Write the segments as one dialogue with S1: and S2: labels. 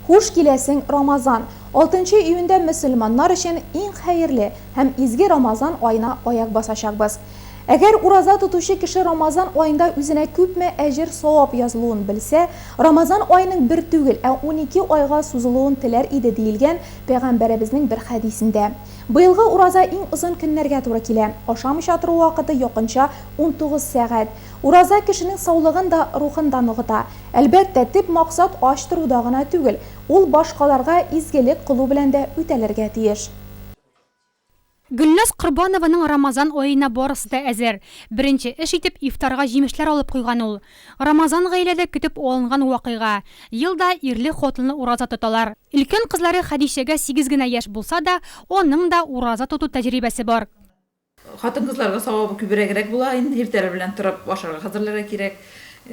S1: Хуш киләсең, Рамазан! Алтынчы июньдә мөселманнар өчен иң хәерле һәм изге Рамазан аена аяк басачакбыз. Әгәр ураза тотучы кеше Рамазан аенда үзенә күпме әҗер-савап язылуын белсә, Рамазан аеның бер түгел, ә унике айга сузылуын теләр иде, диелгән Пәйгамбәребезнең бер хәдисендә. Быелгы ураза иң озын көннәргә туры килә. Ашамыйча тору вакыты якынча унтугыз сәгать. Ураза кешенең саулыгын да, рухын да ныгыта. Әлбәттә, төп максат ач торуда гына түгел, ул башкаларга изгелек кылу белән дә үтәлергә тиеш.
S2: Гөлназ Корбанованың Рамазан аена барысы да әзер. Беренче эш итеп ифтарга җимешләр алып куйган ул. Рамазан гаиләдә көтеп алынган вакыйга. Ел да ирле-хатынлы ураза тоталар. Өлкән кызлары Хәдичәгә сигез генә яшь булса да, аның да ураза тоту тәҗрибәсе бар. Хатын-кызларга
S3: савабы күберәгрәк була инде, иртәләр белән торып ашарга хәзерләргә кирәк.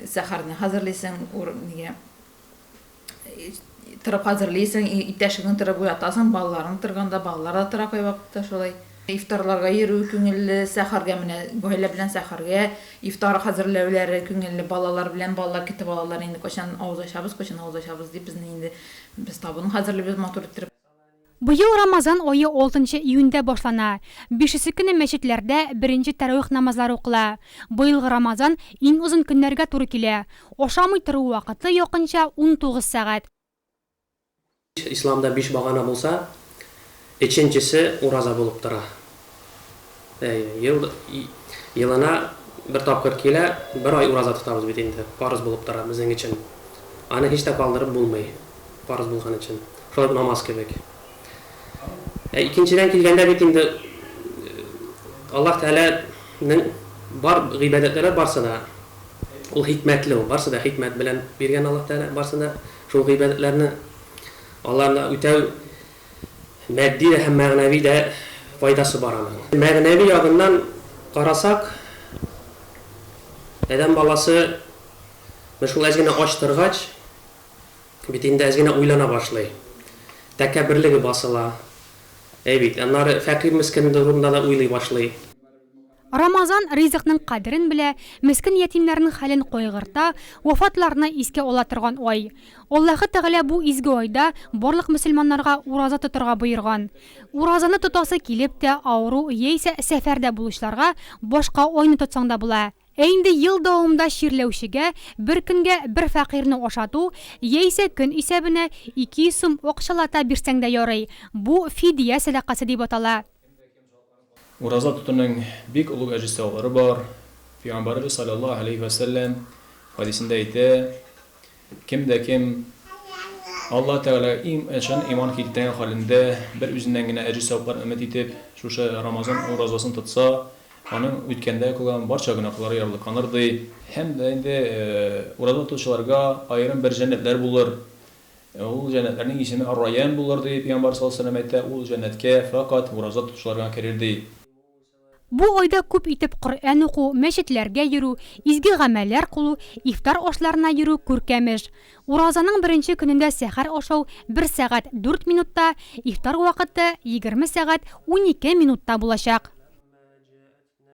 S3: Сәхәрне хәзерлисең, ур, нигә, торып хәзерлисең, и, иптәшеңне торып уятасың, балаларың торганда, балалар да тора кайвакытта шулай. Ифтарларга йөрү күңелле, сәхәргә менә гаилә белән сәхәргә, ифтар хәзерләүләре күңелле, балалар белән, балалар китеп алалар инде, кайчан авыз ачабыз, кайчан авыз ачабыз дип, безне инде, без табын хәзерлибез матур иттереп. Быел
S2: Рамазан ае алтынчы июньдә башлана. Бишесе көне мәчетләрдә беренче тәравих намазлары укыла. Быелгы Рамазан иң озын көннәргә туры килә. Ашамый тору вакыты якынча унтугыз сәгать. Исламда
S4: биш багана булса, өченчесе ураза булып тора. Әйе, ел, елына бер тапкыр килә, бер ай ураза тотабыз бит инде, парыз булып тора безнең өчен. Аны һич тә калдырып булмый, парыз булган өчен. Шулай ук намаз кебек. Ә икенчедән килгәндә бит инде Аллаһ Тәгаләнең бар гыйбадәтләре барсы да ул хикмәтле, ул барсы да хикмәт белән биргән Аллаһ Тәгалә, барсы да шул гыйбадәтләрне аларны үтәү Матди дә һәм мәгънәви дә файдасы бар аның. Мәгънәви ягыннан карасак, адәм баласы менә шул әз генә ач торгач, бит инде әз генә уйлана башлый. Тәкәбберлеге басыла. Әй бит. Аннары фәкыйрь-мескенлеге турында да уйлый башлый. Рамазан
S2: ризыкның кадерен белә, мескен ятимнәрнең хәлен кайгырта, вафатларны искә ала торган ай. Аллаһы Тәгалә бу изге айда барлык мөселманнарга ураза тотарга боерган. Уразаны тотасы килеп тә, авыру яисә сәфәрдә булучыларга башка айны тотсаң да була. Ә инде ел дәвамында чирләүчегә бер көнгә бер фәкыйрьне ашату яисә көн исәбенә 200 сум акчалата бирсәң дә ярый, бу фидия сәдакасы дип атала.
S5: Ураза тотуның бик олуг әҗес-саваплары бар. Пәйгамбәребез салләллаһу галәйһи вә сәлләм хәдисендә әйтә, Кем дә кем Аллаһы Тәгаләгә чын иман килтергән хәлендә, бер үзеннән генә әҗес-саваплар өмет итеп, шушы Рамазан уразасын тотса, аның үткәндә кылган барча гөнаһлары ярлыканыр, ди. Һәм дә инде ураза тотучыларга аерым бер җәннәтләр булыр. Ул җәннәтләрнең исеме Ар-Райян булыр, дип, пиамбар салләһу галәйһи ва сәлләм әйтә, ул җәннәткә фәкать ураза тотучылар гына керер, ди. Бу
S2: айда күп итеп Коръән уку, мәчетләргә йөрү, изге гамәлләр кылу, ифтар ашларына йөрү күркәм эш. Уразаның беренче көнендә сәхәр ашау бер сәгать дүрт минутта, ифтар вакыты егерме сәгать унике минутта булачак.